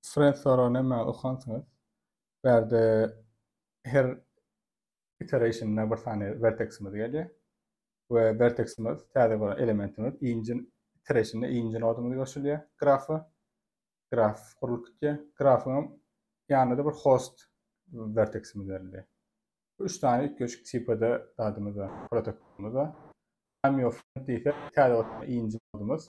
Sret sorag näme okansyňyz bärde her iterationna bir sany verteksimiz gelýär we verteksimiz täze bolan elementimiz inji iterationna inji nodumyz goşulýar grafa graf gurlup gitýär grafyňam ýanyna-da bir host verteksimiz berilýär üç sany üýtgeşik tipde zadymyz bar protokolymyz bar amyofnet diýsek täze inji nodumyz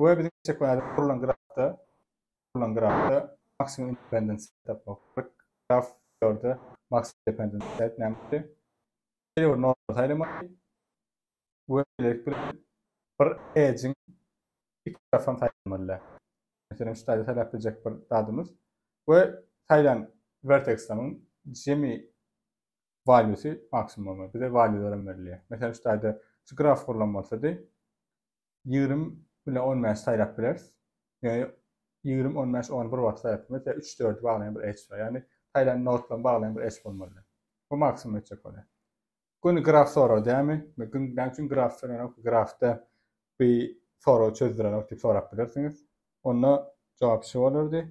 we biziň çekmänede gurlan grafda gurlan grafda maksimum independent set tapmak gerek. Graf ýörde maksimum independent set nämedir? Şeýle bir norma saýlamaly we şeýlelik bilen bir edge-iň iki tarapam saýlamaly. Meselem, şu taýda saýlap biljek bir zadymyz we saýlan verteksimiň jemi valýusy maksimum bolmaly. Bize valýularym berilýär. Meselem, şu taýda şu graf gurlan bolsady, ýigrimi bilen on bäşi saýlap bileris. Ýöne ýigrimi, on bäş, ony bir wagtda saýlap bilmeris. Ýa üç-dördi baglaýan bir edge bar. Ýagny saýlan nodlaryny baglaýan bir edge bolmalydy. Bu maksimum etjek bolýar. Göni graf sorag dämi? Men gün näme üçin graf soranok? Grafda bu soragy çözdürenok diýip sorap bilersiňiz. Onda jogap şu bolardy.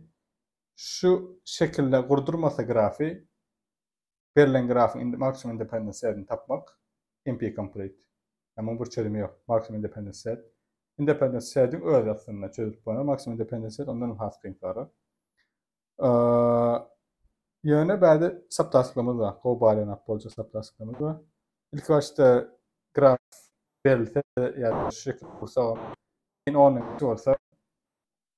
Şu şekilde gurdurmasa grafy Berlen grafyň indi maksimum independent setini tapmak, NP-complete. Ýa muň bir çözümi ýok. Maksimum independent set. Independent setiň özi aslynda çözülip bolan, maksimum independent set ondan hem has kynsarak. Ýöne bäde saptaşlygymyz bar. Gowy baýlanap boljak saptaşlygymyz bar. Ilki başda graf berilse ýa-da şu şekil gursagam, ýene onyň bolsa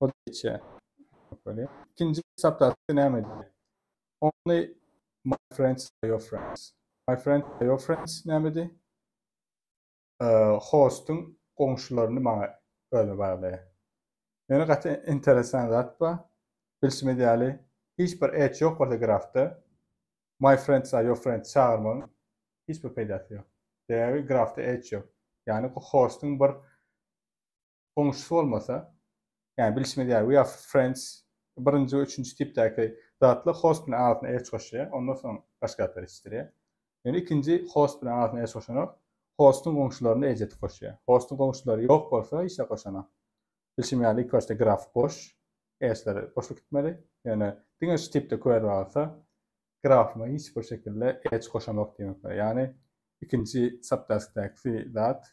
O geçýär. Ikinji saptasy näme diýýär? Only my friends are your friends. My friends are your friends nämedi? Hostuň goňşularyny maňa özüne baglaýar. Ýöne gaty interesan zat bar. Bilşimiz ýaly, hiç bir edge ýok bolsa grafda my friends are your friends çagyrmagyň hiç bir peýdasy ýok. Sebäbi grafda edge ýok. Ýagny hostuň bir goňşusy bolmasa, ýagny bilşimiz ýaly we of friends birinji we üçünji tipdäki zatlar host bilen arasyna erç goşýar, ondan soň başga zatlar ýetişdirýär. Ýöne ikinji host bilen arasyna erç goşanok, hostuň goňşularyna erç edip goşýar. Hostuň goňşulary ýok bolsa hiç zat goşanok. Bilşim ýaly ilki başda graf boş, erçler boşluk gitmeli, ýöne diňe şu tipde query bar bolsa grafyma hiç bir şekilde erç goşanok diýmek bolar. Ýagny ikinji subtaskdäki zat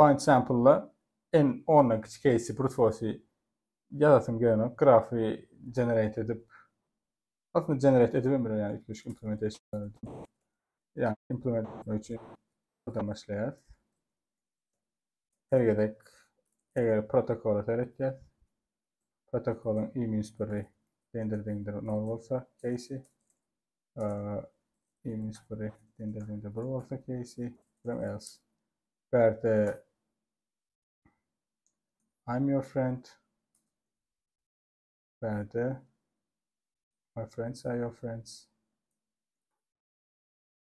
Findsample'da N ondan kiçi keýsi brute force ýazasym gelenok grafy generate edip aslynda generate edibem biler ýagny üýtgeşik implementation ýagny implement etmek üçin buradan başlaýarys her gezek eger protokola seretýäs protokolyň i minus biri deňdir deňdir nol bolsa keýsi Eýmiş biri dende-dende bir bolsa keýsi, birem else. Bärde I'm your friend. Bärde my friends are your friends.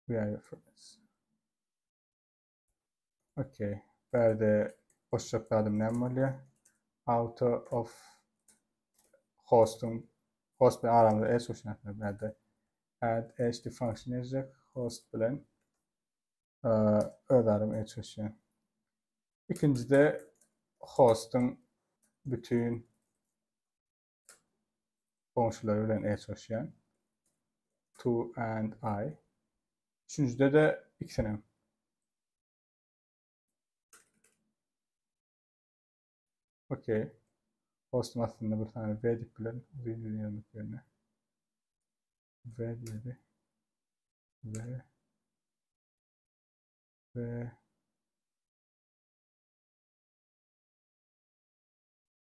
We are your friends. Okey. Bärde goşjak zadym näme bolýar? Auto of hosting host bilen aramyzda eş uçnaklar bärde. Add eş de function ejek host bilen öz aram eş uçýan. Ikinjide hosting bütün Goňşulary bilen eşleşýän. To and I. Üçünjide-de ikisinem. Okey. Postun astynda bir sany V dip bilen uzyn ýüz ýazmak ýerine. V diýdi. V. V.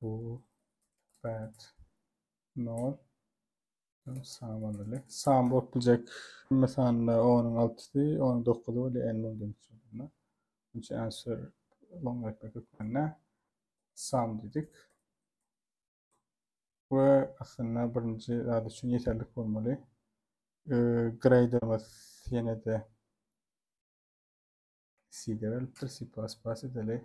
Bu bad nol sam bolmaly. Sam bolup biljek hemme sanlar 10-yň altysy, 10-yň dokuzy we n bolýan üçin. Üçin answer long etmek hökmünde sam dedik. Ve aslında birinci zat üçin yeterlik bolmaly. E, ee, graderimiz yine de C-de verilipdir, C++ edeli.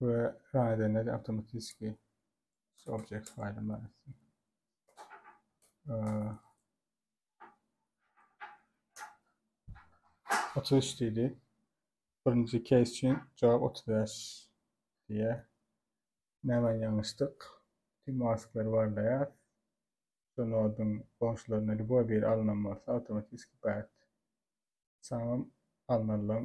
we raýdene de awtomatiski object faýly bar etsin. Otuz üç diýdi. Birinji case üçin jogap otuz bäş diýýär. Näme ýalňyşdyk? Tüm masklary barlaýar. Şu noduň goňşularyna ljuboý biri alnan bolsa, awtomatiski bad. Samym alnalyň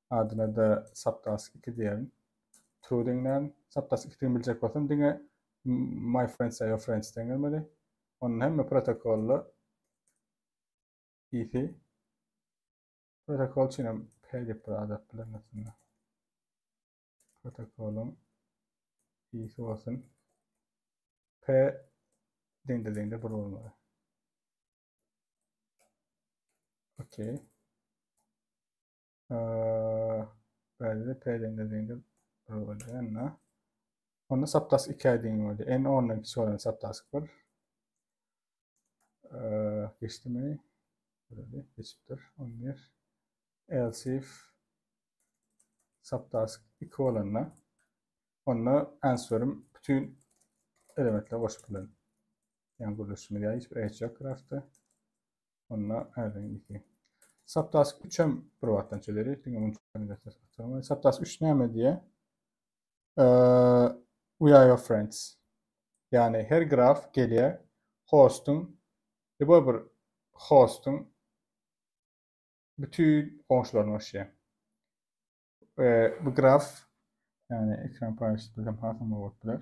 Adyna-da Saptask iki diýerin. True diňlän. Saptask ikidigini biljek bolsam diňe My friends are your friends diýen gelmeli. Onda hemme protokolla isi protokol üçin hem P diýip bir adat bilen aslynda. Protokolun isi olsun. P diňde diňde bir olmaly. Okey. Bäli pälende diýende bir bolýar anda. Onda saptas 2 aýdyň bolýar. N 10-dan kiçi bolan saptas 1. Geçdimi? Böyle geçipdir. 11. Else if saptas 2 bolanda onda answerim bütün elementler goşup bilen. Yani gürleşimiz ya hiçbir eç yok grafta. Onda ärden gitýän. Saptask 3 hem bir wagtdan çeleri. Diňe munuň üçin gaçyp oturmaýyn. Saptask 3 näme diýýär? We are your friends. Ýagny her graf gelýär hostuň Liboý bir hostuň bütün goňşularyny goşýar. Bu graf ýagny ekran paýlaşdyk hem hasam bolup biler.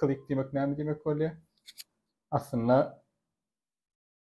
Click diýmek näme diýmek bolýar? Aslynda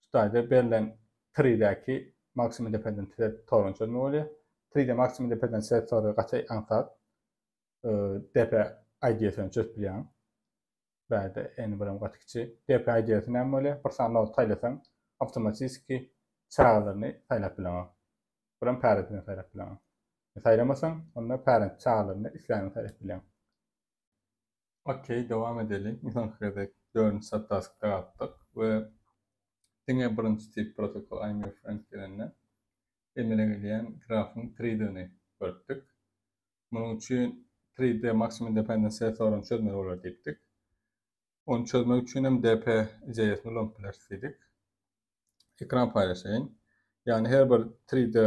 Hytaýda berlen TRI-däki Maksimi depeden Tibet toruny çözmek bolýar. TRI-de Maksimi depeden Tibet tory gaty aňsat. Depe IDS-ä çözüp bilýäň. Bärde eni birem gaty kiçi. Depe IDS-i näme bolýar? Bir sany nod saýlasaň, awtomatiski çagalaryny saýlap bileňok. Birem pärentini saýlap bileňok. Saýlamasaň, onda pärent çagalaryny isläniňi saýlap bilýäň. Ok dowam edeliň soňky gezek dördünji subtaskda galdyk we diňe birinji tip protokol I'm your friend gelende emele gelýän grafyň tridygyny görüpdik. Munuň üçin trid maximum dependence soragyny çözmeli bolar diýipdik. Ony çözmek üçin hem dp JS-ni ulanyp bileris diýdik. Ekran paýlaşaýyn. Ýagny her bir tride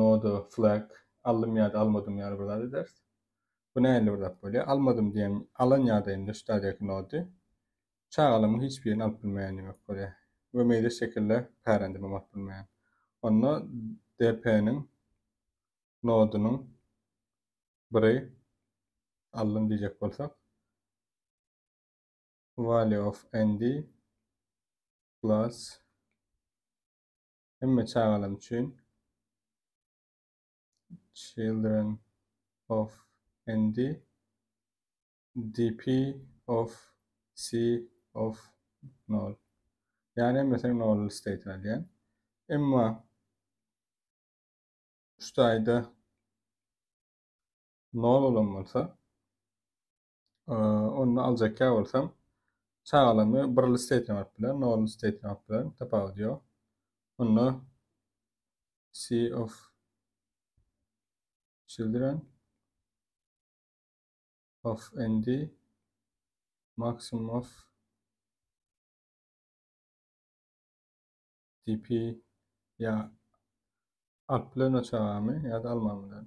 Noda, flag, aldym ýa-da almadym ýaly bir zat ederis. Bu nähili bir zat bolýar? Almadym diýen alan ýa-da indi stadiýaky nody çagalamyň hiç birini alyp bilmeýän diýmek bolýar we meýlis şekilde pärendimem alyp bilmeýän. Onda DP-niň nodunyň biri aldym diýjek bolsak value of ND plus Hemme çagalar üçin Children of ND DP of C of Nol. Yani hemmesini nol state alýan. Emma şu taýda nol bolan bolsa onda aljakka bolsam çagalamy bir listeyt ýamak bilen nol listeyt ýamak bilen tapawudy ýok onda c of children of nd maximum of dp ya alp bilen çagamy ya da almam bilen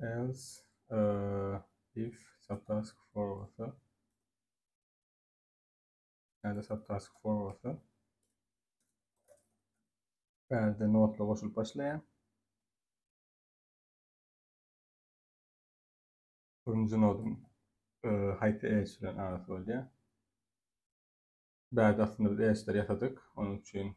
Else if subtask for bolsa yani subtask for bolsa bärde notla goşulyp başlaýar. Birinji nodum e, haýsy edge bilen arasy bolýar. Bärde aslynda biz edge'leri ýasadyk. Onuň üçin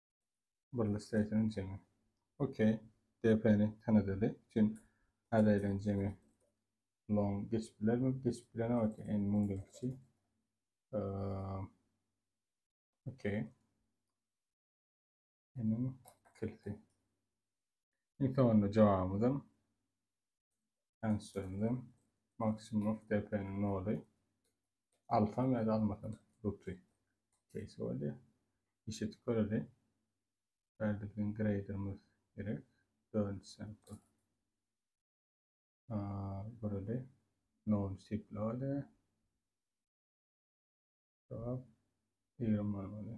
Burly Station jemi. Okey. DP-ni tanadady. Üçin Adaylan jemi long geçip bilermi? Geçip bilen o ki en mundan kiçi. Okey. Emin kilti. İlk sonunda cevabımızın Ençdirdim. Maksimum depeniň noly. Alsam ýa-da almasam. Ruty. Keýsi boldy. Işit göreli. Bärde biziň graderimiz gerek. Dördünji sample. Göreli. Noly tipli oldy. Jogap. Ýigrimi man boldy.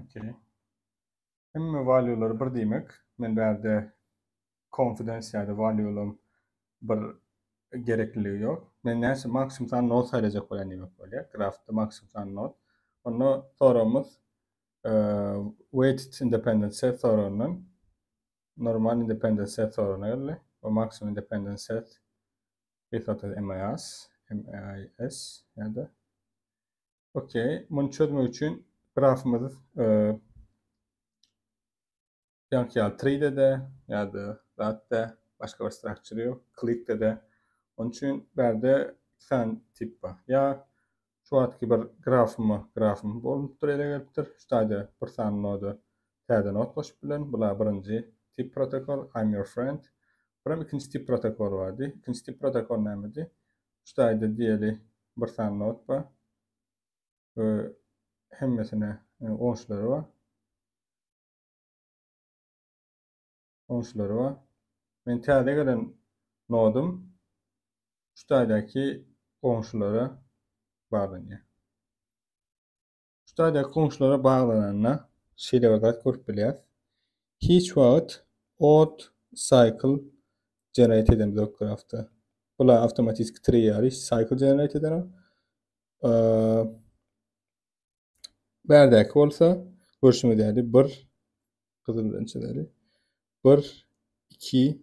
Okey. Hemme value'lar bir diýmek. Men bärde confidence ýa-da value'laryň bir gerekliligi ýok. Men näçe maksimum san not saýlajak bolýan diýmek bolýar. Graphda maksimum san not. Onda soragymyz weighted independent set soragyndan normal independent set soragyna geldi we maksimum independent set without MIS, MIS ýa-da Okey. Muny çözmek üçin grafymyzy e, ýaňky ýaly 3D-de ýa-da zatda başga bir structure ýok. Klikde-de. Onun üçin bärde iki sany tip bar. Ýa şu wagtky bir grafymy, grafym bolupdyr, ele gelipdir. Şu taýda bir sany noda täze nod goşup bilen. Bular birinji tip protokol I'm your friend. Buram ikinji tip protokol bardy. İkinci tip protokol nämedi? Şu taýda diýeli bir sany not bar we hemmesine goňşulary bar. Goňşulary bar. Men täze gelen nodum şu taýdaky goňşulara baglanýar. Şu taýdaky goňşulara baglananda şeýle bir zat görüp bilýäris. Hiç wagt ot, cycle, generate edemizok ýok grafda. Bular awtomatiki tree ýaly cycle generate eder. Bärdäki bolsa görşüňiz ýaly 1 gyzyl bilen çizeli. 1 2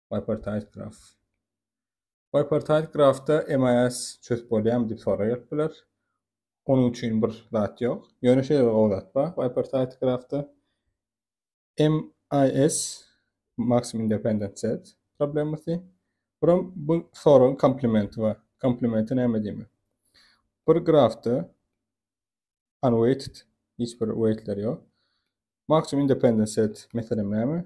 Bipartite graf. Bipartite grafda MIS çözüp bolýarmy diýip soraýar biler. Onuň üçin bir zat ýok. Ýöne şeýle bir gowzat bar. Bipartite grafda MIS maksimum independent set problemasy. Buram bu soragyň komplementi bar. Komplementi näme diýmek? Bir grafda unweighted hiç bir weightler ýok. Maksimum independent set meselem näme?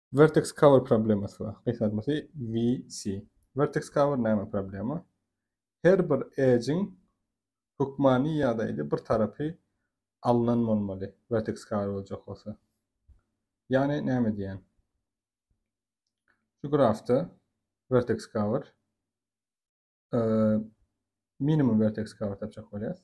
Vertex cover problemasy bar. Gysgaltmasy VC. Vertex cover näme problema? Her bir edge-iň hökmany ýagdaýda bir tarapy alnan bolmaly vertex cover boljak bolsa. Ýagny näme diýýän? Şu grafda vertex cover minimum vertex cover tapjak bolýas.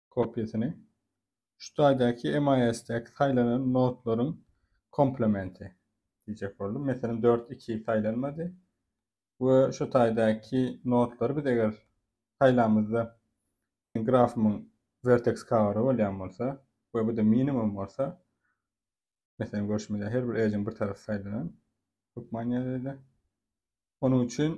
kopiýasyny, şu taýdaky MIS-däki saýlanan nodlaryň komplementi diýjek boldum. Meselem, dört iki saýlanmady we şu taýdaky nodlary biz eger saýlamyzda grafymyň verteks kawary bolýan bolsa we bu-da minimum bolsa, meselem, görşümize her bir edge-iň bir tarapy saýlanan, hökman ýaly-da. Onuň üçin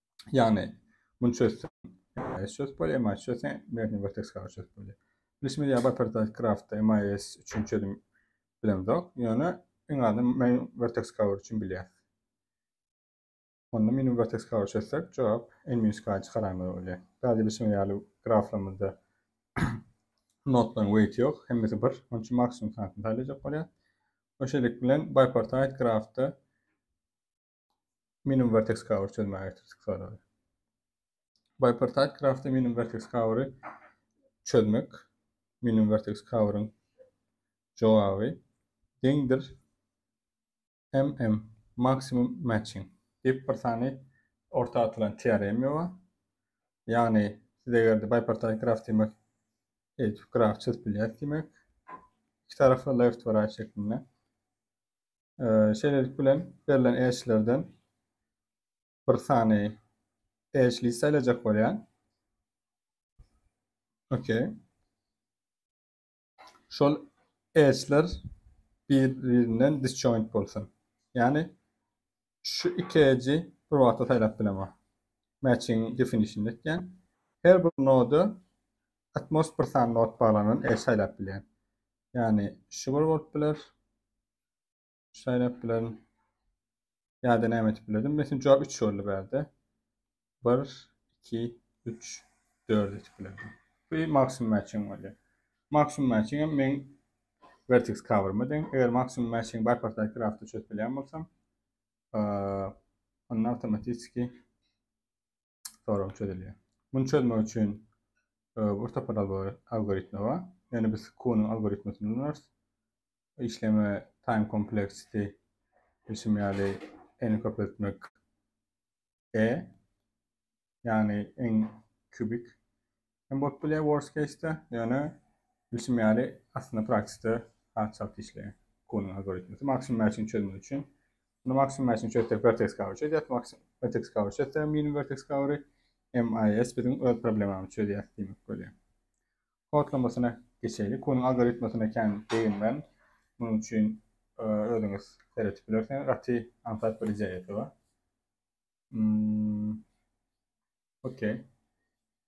Ýagny, muny çözseň, MIS çözüp bolýar, MIS çözseň, Merheniň Vertex Cover çözüp bolýar. Bilşimiz ýaly, Bipartite Craft-da MIS üçin çözüm bilemzok, ýöne iň azyndan Main Vertex Cover üçin bilýäs. Onda Minimum Vertex Cover çözsek, jogap N-1 çykaranymyz bolýar. Täze bilşimiz ýaly, graflarymyzda nodlaryň weýti ýok, hemmesi bir, onuň üçin maksimum sanysyny saýlajak bolýar. Şeýlelik bilen, Bipartite Craft-da minimum vertex cover çözmäge getirdik soragy. Bipartite graphda minimum vertex covery çözmek minimum vertex coveryň jogaby deňdir MM maksimum matching diýip bir sany orta atylan teorema bar. Ýagny siz eger bipartite graf diýmek eýtip graf çözüp bilýäs diýmek. Iki tarafy left we right şeklinde. Şeýlelik bilen, berlen eşiklerden bir sany eşigi saýlajak bolýan. OK. Şol eşikler bir-birinden disjoint bolsun. Ýagny şu iki eji bir wagtda saýlap bilemer. Matching definition etýän. Her bir noda atmos bir sany nod baglanan eş saýlap bilýän. Ýagny şu bir bolup biler. Şaýlap bilerin. Ýa-da näme etip bilerin? Mesin jogap 3 boldy bärde. 1 2 3 4 etip bilerin. Bu maksimum matching bolýar. Maksimum matching hem men vertex cover-my deň. Eger maksimum matching bar portal craft-da çözüp bilýän bolsam, onda awtomatiki sorag çözülýär. Muny çözmek üçin e, orta pad algoritmi bar. Ýöne biz Q-nyň algoritmini ulanarys. Işleme time complexity işim ýaly n köpeltmek e ýagny n kubik hem bolup bilýär worst case-de, ýöne bilşim ýaly aslynda praktikde has çalt işleýär Kunyň algoritmisi maksimum mäçini çözmek üçin. Muny maksimum mäçini çözsek vertex cover çözýär, maksimum vertex cover çözsek minimum vertex cover-y MIS biziň öz problemamyzy çözýär diýmek bolýar. Kodlamasyna geçeýlik. Kunyň algoritmasyna kän begenmän, munuň üçin özüňiz seretip bilersiňiz. Gaty aňsat bir ideýasy bar. Hmm. Okey.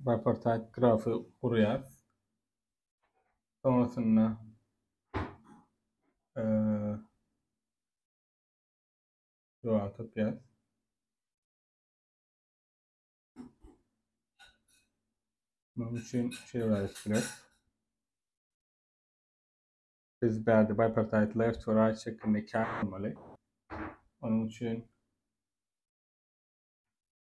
Buffer-type grafy gurýarys. Soňasynda Jogaby tapýarys. Munuň üçin şey wajyp biler. Biz bärde bipartite left we right şeklinde kâr almaly. Onun için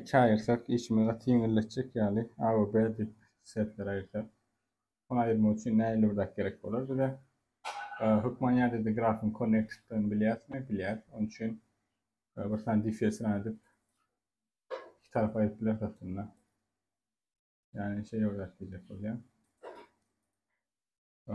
Iki aýyrsak işimiz gaty ýeňilleşjek ýaly A we B dip setleri aýyrsak. Ony aýyrmak üçin nähili bir zat gerek bolar bize? Hökman ýa-da grafyň konnektliklerini bilýäsmi? Bilýäs. Onuň üçin bir sany difes run edip iki tarapa aýryp bileris aslynda. Yani şey olarak diyecek olyan. Ee,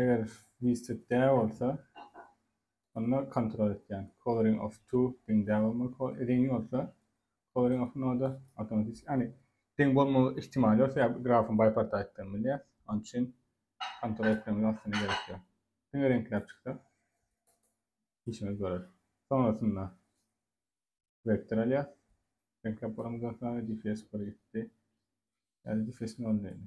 Eger Listed dä bolsa, onda kontrol etýän Coloring of to deň dä bolmaly, deň bolsa Coloring of noda awtomatiki, ýagny deň bolmagy ihtimal ýok, sebäbi grafyň bipartitedini bilýär. Onuň üçin kontrol etmemiz aslynda gerek ýok. Diňe reňkläp çyksa, işimiz görer. Soňrasynda vektor alýar. Reňkläp bolamyzdan soňra DFS bir gitdi. Ýa-da DFS nol diýeli.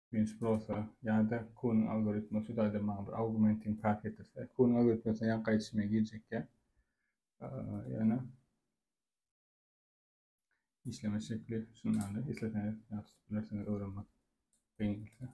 Binç Prosa ýa-da Kunyň algoritmi şu taýda maňa bir augmenting path getirse, Kunyň algoritmi ýa gaýçyma girjek ýa ýa-da işleme şekli şundan isleseňiz ýa-da bilersiňiz öwrenmek kyn gelse.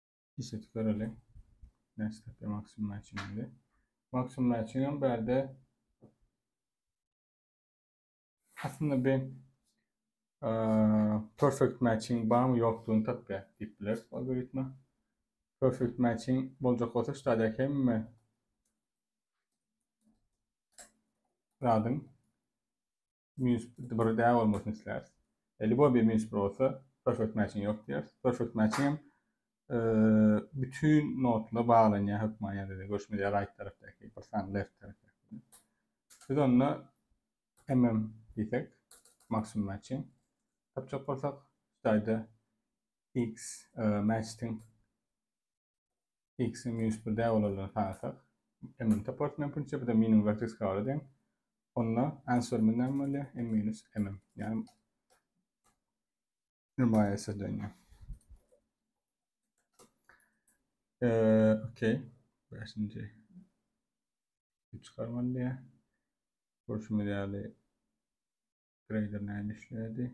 Işletip göreli. Näçe tapýar maksimum mäçiňi? Maksimum mäçiňem bärde aslynda bir perfect matching barmy ýokdugyny tapýar diýip bileris algoritma. Perfect matching boljak bolsa şu taýda hemme zadyň Minus bir däl bolmasyn isläris. Libo bir minus bir olsa perfect matching yok diýeris. Perfect matching hem e, bütün notla baglanýar hökman ýa-da görüşmeli ýa right tarapdaky bir sany left tarapdaky. Biz onda mm diýsek maksimum matching tapjak bolsak, şaýda x e, matching X-iň minus bir däl bolandygyny tanlasak, m-iň tapawuty mümkinçe bir-de minimum vertex kabala deň. Onda answerimiz näme bolýar? m minus m. Ýagny nirmaýasyz dönýär. Eee, okey. Beşinji. Üç çıkarmaly diýär. Görüşimiz ýaly grader näme işledi?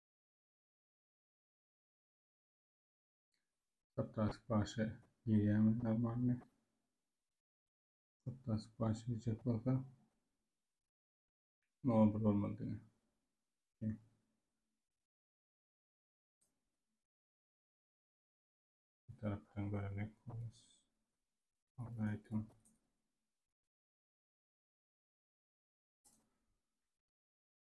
Sapdasyp başy ýerýämi normalny? Sapdasyp başy ýerjek bolsa nol bir bolmaly diýen. Bir tarapdan göremek bolar. Ondan aýtym.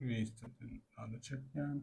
Registrden adı çekýän.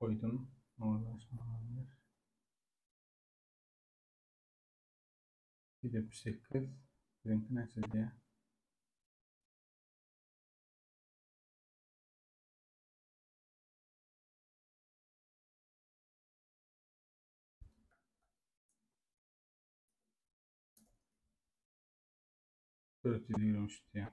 goýdum. Molodes malades. Ýüz ýetmiş sekiz. Biziňki näçe diýýär? Dört ýüz ýigrimi üç diýýär.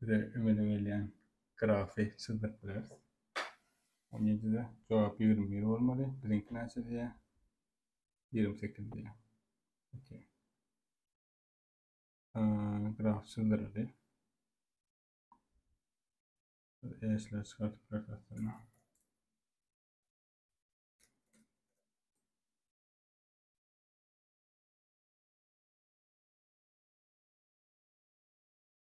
Bize emele gelýän grafy çyzdyryp bileris. On ýedide jogap ýigrimi bir bolmaly. Biziňki näçe diýýär? Ýigrimi sekiz diýýär. Okey. Graf çyzdyryldy. Eşler çykartyp bileris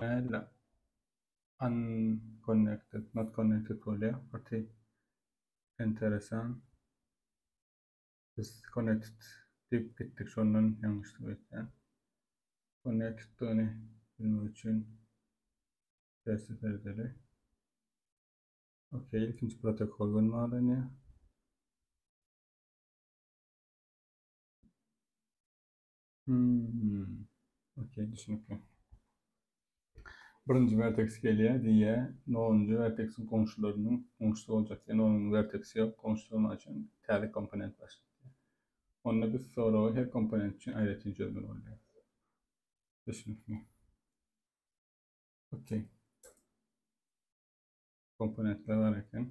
Nädip unconnected, not connected bolýar? Gaty enteresan. Biz connected diýip gitdik, şondan ýalňyşdyk öýtýän. Connected-ni bilmek üçin tersi serdeli. Okey, ilkinji protokol görmälenýär. Hmm. Okey, düşünükli. Birinji vertex gelýär, diýýär, nonunjy vertexiň goňşularynyň goňşusy boljak diýen onuň vertexi ýok, goňşusy bolmany üçin täze komponent başlat diýýär. Onda biz soragy her komponent üçin aýratyn çözmeli bolýarys. Düşünükli. Okey. Komponentler bar eken.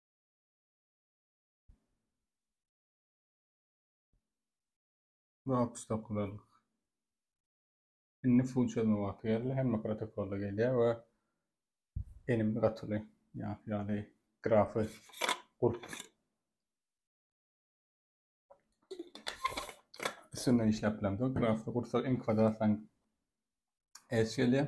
Box topladyk. Indi full çözme wagty geldi. Hemme protokolda gelýär we elimde gatyly ýaly grafy gurup üstünde işläp bilemdi. Grafda gursa iň kwadratlaň S gelýär.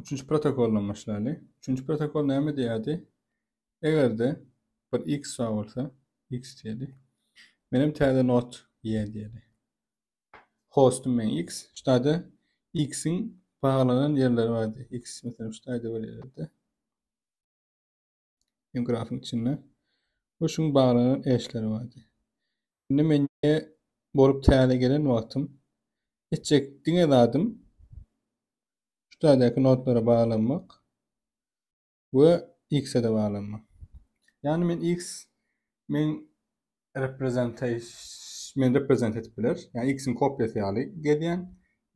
Üçünji protokol bilen başlaýly. Üçünji protokol näme diýýärdi? Eger-de bir x bar bolsa, x diýeli. Men hem täze not y diýeli. Hostum men x, ştada x-iň baglanan ýerleri bardy. X meselem ştada bir ýerde. Ýöne grafyň içinde we şuň baglanan eşleri bardy. Indi men ýe bolup täze gelen wagtym etjek diňe zadym şu täzeki notlara baglanmak we X-e de baglanmak. Ýani men X men reprezentaş men reprezent edip biler. Ýani X-iň kopýasy ýaly gezýän.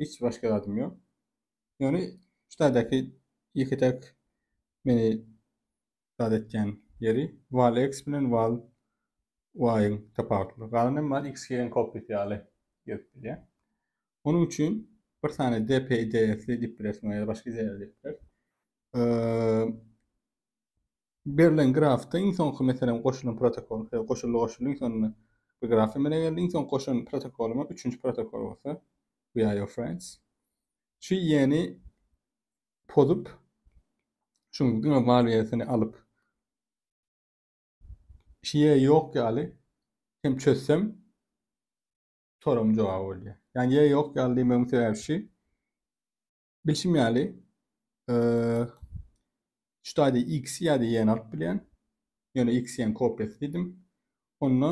Hiç başga zadym ýok. Ýöne şu taýdaky ýeke täk meni zat etýän ýeri val x bilen val y-yň tapawutlydygy. Galan hem bar xg-yň kopýasy ýaly gezip bilýär. Onuň üçin bir sany dpy ds-li diýip bilersiň ýa-da başga ideýalar diýip bilersiň. Berlen grafda iň soňky meselem goşulan protokol, goşuldy goşuldy iň sonunda bir graf emele geldi, iň soňky goşan protokolymyz üçünji protokol bolsa VIO Friends. Şu ýeni pozup şuň diňe valýasyny alyp şiýe ýok ýaly hem çözsem soragyň jogaby bolýar. Ýani ýe ýok ýaly diýmegiň sebäbi şu Bilşim ýaly, şu taýda x ýa-da y-ni alyp bilýän. Ýöne x-iň kopiýasy diýdim. Onda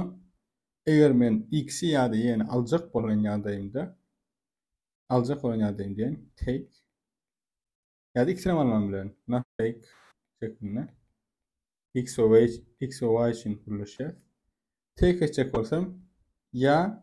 eger men x-i ýa-da y-ni aljak bolan ýagdaýymda aljak bolan ýagdaýym diýen take ýa-da x-ni hem alman bilerin. Not take şeklinde. x we y, x we y üçin birleşýär. Take etjek bolsam, ýa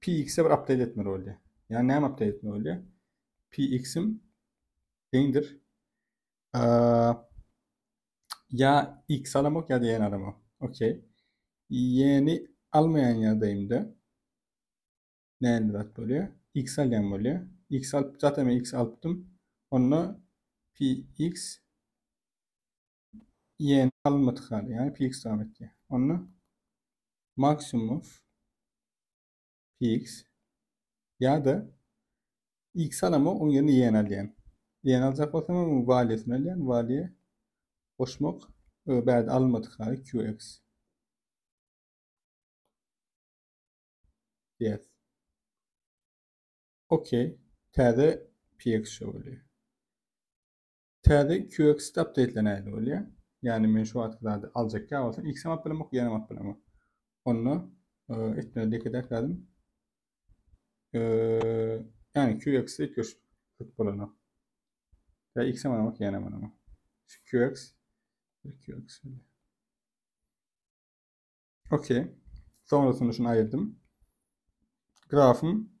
PX-e bir update etmeli bolýar. Ýa näme update etmeli bolýar? PX-im deňdir. Ýa X alamok ýa-da ýene alamok. Okey. Ýeni almaýan ýagdaýymda näme zat bolýar? X alýan bolýar. X alyp, zaten X alypdym. Onda PX y-ni alynmadyk haly, ýagny pix daban etýär. Onda maksimum of pix ýa-da x alama, oň ýerine y-ni alýan. Y-ni aljak bolsam hem oň waliýasyny alýan, waliýa goşmak we bärde alynmadyk haly qx. Yes. Okey. Täze px şo bolýar. Täze QX updateler nähili bolýar? Ýagny men şu wagtky zady aljak ýa bolsa X hem alyp bilemok, Y hem alyp bilemok. Onda etmeli diýek zadym ýagny QX ötüş köp bolanok. Ýa X hem alamok, Y hem alamok. Şu QX QX. Okey. Sonrasynda şunu aýyrdım. Grafym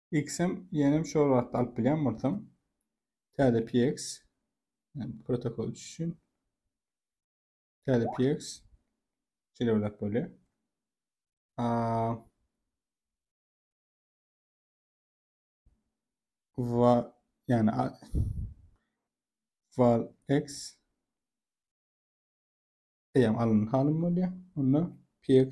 Xm ýenem şol wagtda alyp bilýän bolsam. Täze PX protokol üçin. Täze PX şeýle bir zat bolýar. Va yani val x eýem alyn halym bolýar. Onda px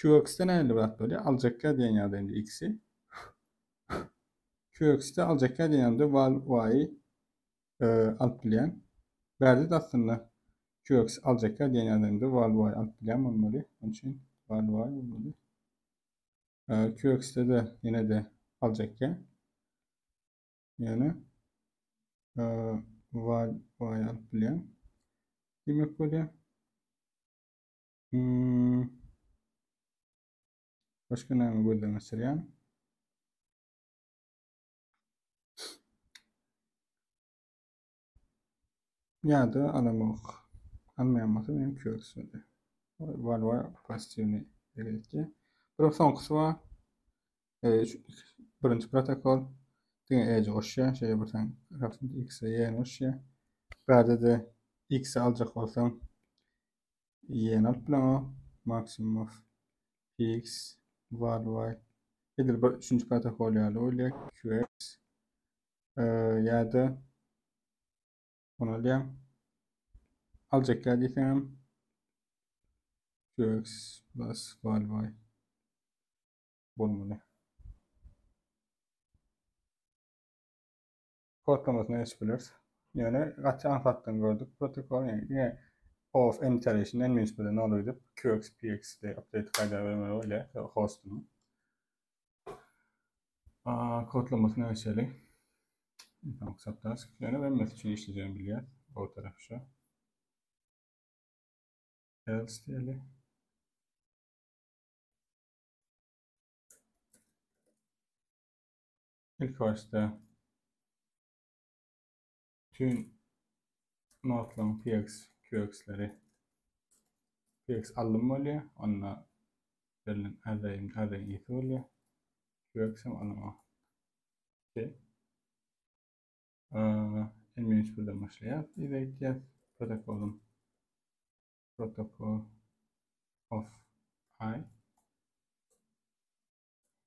QX-de nähili zat bolýar? Aljakka diýen ýagdaý indi X-i. QX-de aljakka diýen ýagdaýda val Y-i e, alyp bilýän. Bärde de aslynda QX aljakka diýen ýagdaýynda val Y alyp bilýän bolmaly. Onuň üçin val Y bolmaly. E, QX-de de ýene-de aljakka. Ýöne e, val Y alyp bilýän. Demek bolýar. Hmm. Başka näme gözden geçirýän? Ýa-da alamok. Almaýan bolsa meni körsündi. Var var pasivni belirtdi. Bir soňkusy bar. E, birinji protokol diňe ej goşýar, şeýle bir sen rapid x-e ýerleşýär. Bärde de x-i aljak bolsaň Ýene alyp bileňo maksimum fix value. Edil bir üçünji protokol ýaly bolýar QX ýa-da bunu alýan. Aljak ýa diýseňem QX plus value bolmaly. kodlamasyny açyp bileris. Ýöne gaty aňsatdan gördük protokol ýöne ýene of enterişin en minst bilen ol öýdüp QXPX de update gaýda bermeli bolýar ýa hostuny. A kodlamasyny açaly. Tamam, sapdas. Ýöne webmas üçin işlejegini bilýär. O taraf şu. Else diýeli. Ilki başda tüm notlaryň PX, QX-leri PX alym bolýar, onda berlen arraýyň arraýyň ýeti bolýar. QX hem alyma. Şey. Emin şuradan başlaýar. Biz aýtýar protokolum. Protokol of i.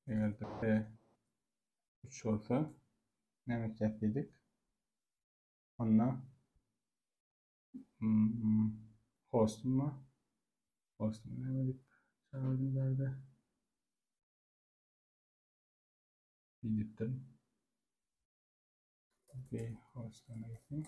Eger de p 3 bolsa näme etjek dedik? Onda hmm, hostum var. Hostum näme edip çağırdım zade. Gidipdim. Bir hostum gitsin.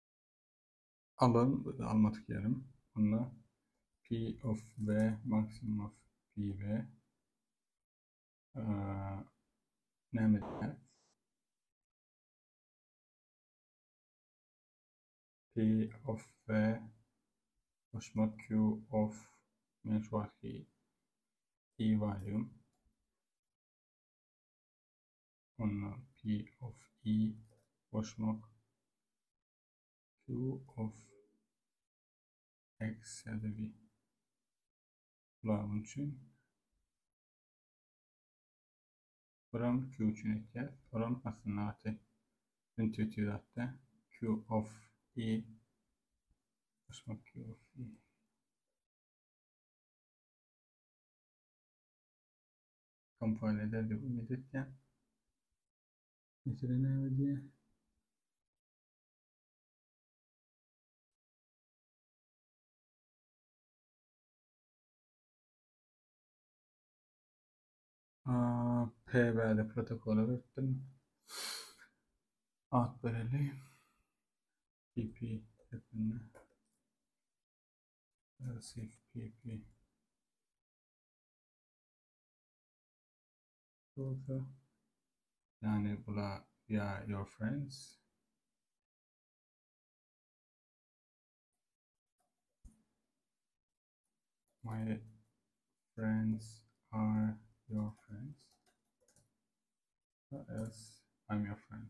Alan alma tikýärin. Onda p of v maksimum of p v näme edýär? P of V goşma Q of men şu wagtky i varlygym. onda P of i goşmak Q of x ýa-da Bularyň üçin Buram Q üçin etýär. Buram aslynda gaty intuitiv zatda Q of E goşmak Q of E. Kompile eder diýip umyt etýän. Mesele näme diýýär? PBD protokola öwretdim. Ad bereli. PP hepini. Receive PP. bolsa ýagny bula ýa your friends my friends are your friends as I'm your friend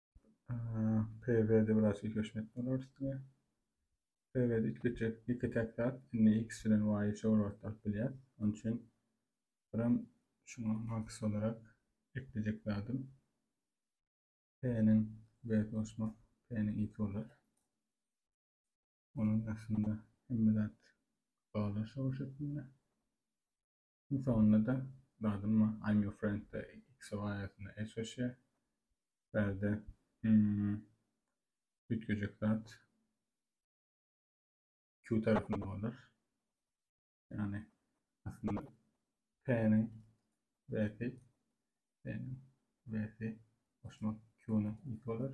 PV-de biraz ýekeşmek bolar üstüne. PV-de iki küçük, iki tek zat. Indi X bilen Y-y şowlatdyryp bilýär. Onun üçin birim şuňa max olarak eklejek zadym. P-niň B goşmak, P-niň X bolar. Onun aslında hemme zat bağlar şow şeklinde. Iň soňunda-da dadynma I'm your friend-de XO aýatyna el çeşýär. Bärde üýtgejek zat Q tarapynda bolar. Ýagny aslynda P-niň W-si P-niň W-si goşmak Q-nyň Y-si bolar.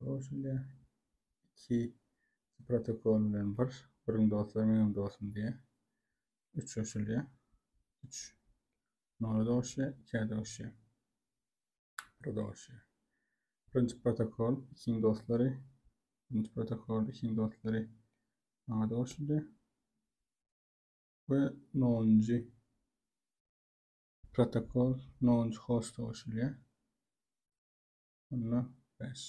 Ol şeýle iki protokol bilen bir, biriň dostlary meniň dostum diýýär. Üç goşulýar. Üç nola doguşýar, ikä doguşýar. Bir doguşýar. Birinji protokol, ikiň dostlary, birinji protokol, ikiň dostlary maňa doguşdy. Ve nonuncu protokol, nonuncu host doguşulýar. Onda bäş.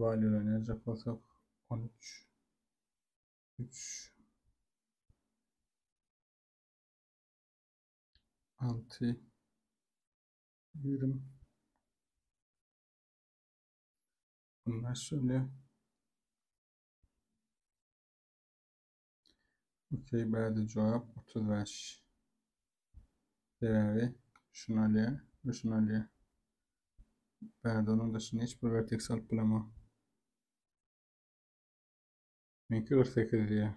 Valýularny ýazjak bolsak, on üç. Üç. Alty. Ýigrimi. Onda şöyle. Okey bäde jogap 35. Sebäbi şuny alýar we şuny alýar. Bäde onuň daşyna hiç bir verteks alyp bilemok. Meňki 48 diýär.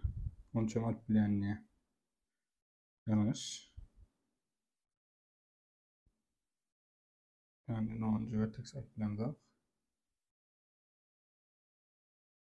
Onçam alyp bilýän diýär. Ýalňyş. Yani 10. verteks alıp bilemzok.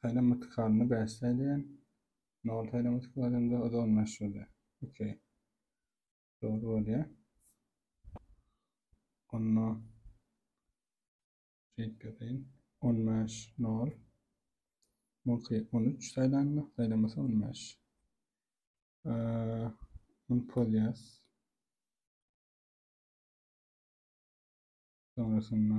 Saýlama mytikalyny bäsleý diýen. Nol saýlama mytikalyny o-da on bäş bolýar. Okey. Dogry bolýar. Onda şeýdip ýazaýyn. On bäş nol. Muňky on üç saýlanma, saýlamasy on bäş. Ony polýas. Sonrasynda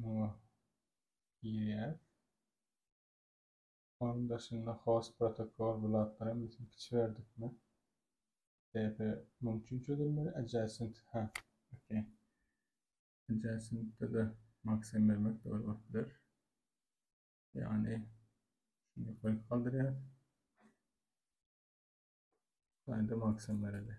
Muňa girýär. Onuň daşynda host protokol bu zatlar hem biz ikiçi berdikmi? DP muň üçin çözülmeli adjacent ha. Okey. Adjacentde de maksimum bermek dogry bolup biler. Ýagny şuny ýokaryk galdyrýar. Gaýda maksimum bereli.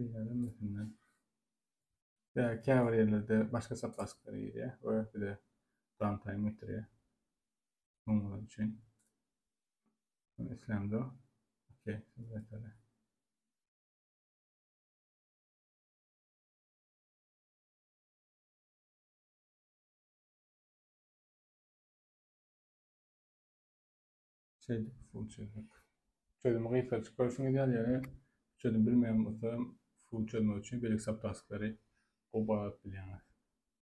Diýilenden Ýa käbir ýerlerde başga saplastklar girýär we bize downtime getirýär. Oňlar üçin. Men islämde o. Okey, simulatora. Şeýdip full çözmek. Çözümi gysgaça görşüňiz ýaly ýene çözüm bilmeýän bolsa full çözmek üçin beýleki subtasklary gowy baladyp bilýäňiz.